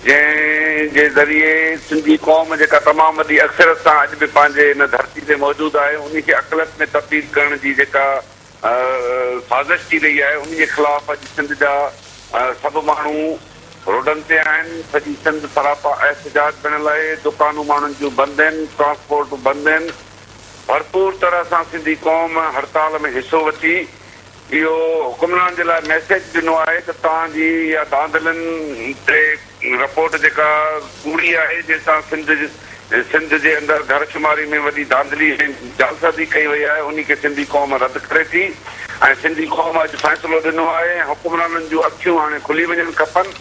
جنهن جي ذريعي سنڌي قوم جيڪا تمام وڏي اڪثريت سان اڄ به پنهنجي هن ڌرتي تي موجود آهي انهي کي اقليت ۾ تبديل ڪرڻ جي جيڪا سازش ٿي رهي آهي انهي جي خلاف اڄ سنڌ جا سڀ ماڻهو روڊن تي آهن سڄي سنڌ سراپا احتجاج بڻيل آهي دڪانون ماڻهن جون بند آهن ٽرانسپورٽون بند آهن ڀرپور طرح سان سنڌي قوم هڙتال ۾ حصو وٺي اهو حڪمران جي لاء ميسيج ڏنو آهي ته توهان جي اها ڌانڌلين تي رپورٽ جيڪا ڪوڙي آهي جنهن سان سنڌ سنڌ جي اندر گهر شماري ۾ وڏي ڌانڌلي ۽ جعلسازي ڪئي وئي آهي انهي کي سنڌي قوم رد ڪري ٿي ۽ سنڌي قوم اڄ فيصلو ڏنو آهي ۽ حڪمرانن جون اکيون هاڻي کلي وڃڻ کپن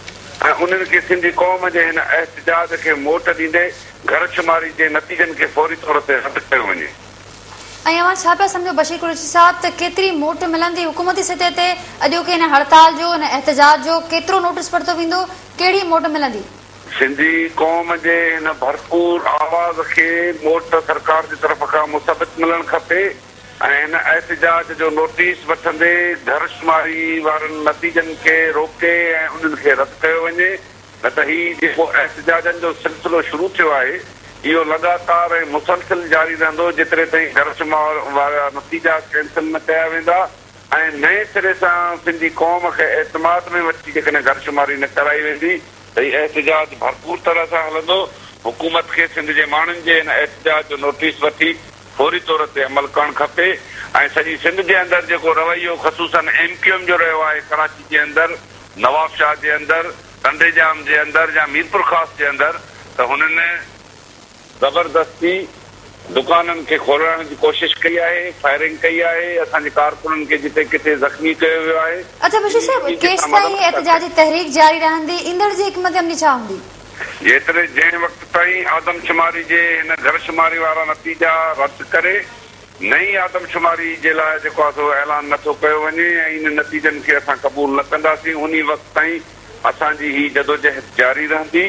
۽ انهن کي سنڌي قوم جي هن احتجاج کي موٽ ڏيندي گهر شماري جي نتيجن کي فوري طور تي رد ڪيو وڃي. ۽ اوهان ڇا پيا سمجهو بشير قريشي صاحب ته ڪيتري موٽ ملندي حڪومتي سطح تي اڄوڪي هن هڙتال جو هن احتجاج جو ڪيترو نوٽس پرتو ويندو ڪهڙي موٽ ملندي. سنڌي قوم جي هن ڀرپور آواز کي موٽ سرڪار جي طرف کان مثبت ملڻ کپي ۽ هن احتجاج جو نوٽيس وٺندي گهرشماري وارن نتيجن کي روڪي ۽ انهن کي رد ڪيو وڃي. نه ته هي جيڪو احتجاجن جو سلسلو شروع ٿيو آهي، اهو لڳاتار ۽ مسلسل جاري رهندو جيتري تائين گهرشمار وارا نتيجا ڪينسل نه ڪيا ويندا ۽ نئين سري سان سنڌي قوم کي اعتماد ۾ وٺي جيڪڏهن گهرشماري نه ڪرائي ويندي ته هي احتجاج ڀرپور طرح سان هلندو، حڪومت کي سنڌ جي ماڻهن جي هن احتجاج جو نوٽيس وٺي فوري طور تي عمل ڪرڻ کپي ۽ سڄي سنڌ جي اندر جيڪو رويو خصوصن ايم ڪيو ايم جو رهيو آهي ڪراچي جي اندر. نوابشاهه جي اندر، ٽنڊي ڄام جي اندر يا ميرپورخاص جي اندر ته هنن زبردستي دڪانن کي کولرائڻ جي ڪوشش ڪئي آهي، فائرنگ ڪئي آهي، اسان جي ڪارڪنن کي جتي ڪٿي زخمي ڪيو ويو آهي. اچا بشير صاحب، ڪيستائين هي احتجاجي تحريڪ جاري رهندي، ايندڙ جي حڪمت عملي ڇا هوندي؟ جيتري جنهن وقت تائين آدمشماري جي هن گهرشماري وارا نتيجا رد ڪري نئين آدمشماري جي لاء جيڪو آهي سو اعلان نه ٿو ڪيو وڃي ۽ انهن نتيجن کي اسان قبول نه ڪنداسين، انهي وقت تائين اسان جي هي جدوجهد جاري رهندي،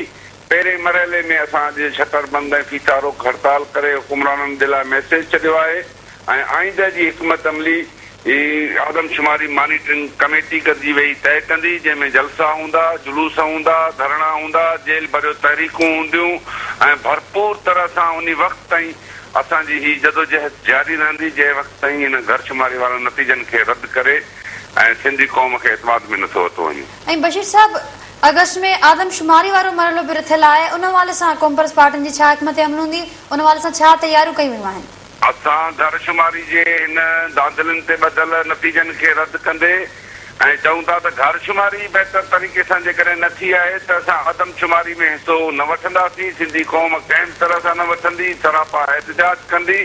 پهرين مرحلي ۾ اسان اڄ شٽر بند ۽ ڦيٿا روڪ هڙتال ڪري حڪمرانن ڏي لاء ميسيج ڇڏيو آهي ۽ آئنده جي حڪمت عملي هي آدمشماري مانيٽرنگ ڪميٽي گڏجي ويهي طئي ڪندي، جنهن ۾ جلسا هوندا، جلوس هوندا، ڌرڻا هوندا، جيل ڀريو تحريڪون هونديون ۽ ڀرپور طرح سان انهي وقت تائين اسان جي هي جدوجهد جاري رهندي، جنهن وقت تائين هن گهر شماري وارن نتيجن کي رد ڪري ۽ سنڌي قوم کي اعتماد ۾ نٿو ورتو وڃي. ۽ بشير صاحب آگسٽ ۾ آدمشماري وارو مرحلو به رٿيل آهي، ان حوالي سان قومپرست پارٽين جي ڇا حڪمت عمل هوندي، ان حوالي سان ڇا تياريون ڪيون ويون آهن؟ اسان گهر شماري جي هن ڌانڌلين تي ٻڌل نتيجن کي رد ڪندي ۽ چئون ٿا ته گهر شماري ئي بهتر طريقي سان جيڪڏهن نه ٿي آهي ته اسان آدم شماري ۾ حصو نه وٺنداسين، سنڌي قوم ڪنهن به طرح سان نه وٺندي، سراپا احتجاج ڪندي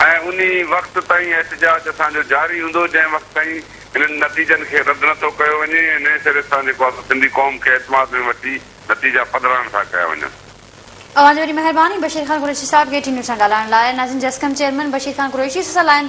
۽ انهي وقت تائين احتجاج اسان جو جاري هوندو جنهن وقت تائين هنن نتيجن کي رد نه ٿو ڪيو وڃي ۽ نئين سري سان جيڪو آسان سنڌي قوم کي اعتماد ۾ وٺي نتيجا پڌرائڻ ٿا ڪيا وڃن. اوهان جي وڏي مهرباني بشير خان قريشي صاحب کي ٽي نيوز سان ڳالهائڻ لاء ناظرين جي اسڪم چيئرمين بشير خان قريشي سسئ لائن.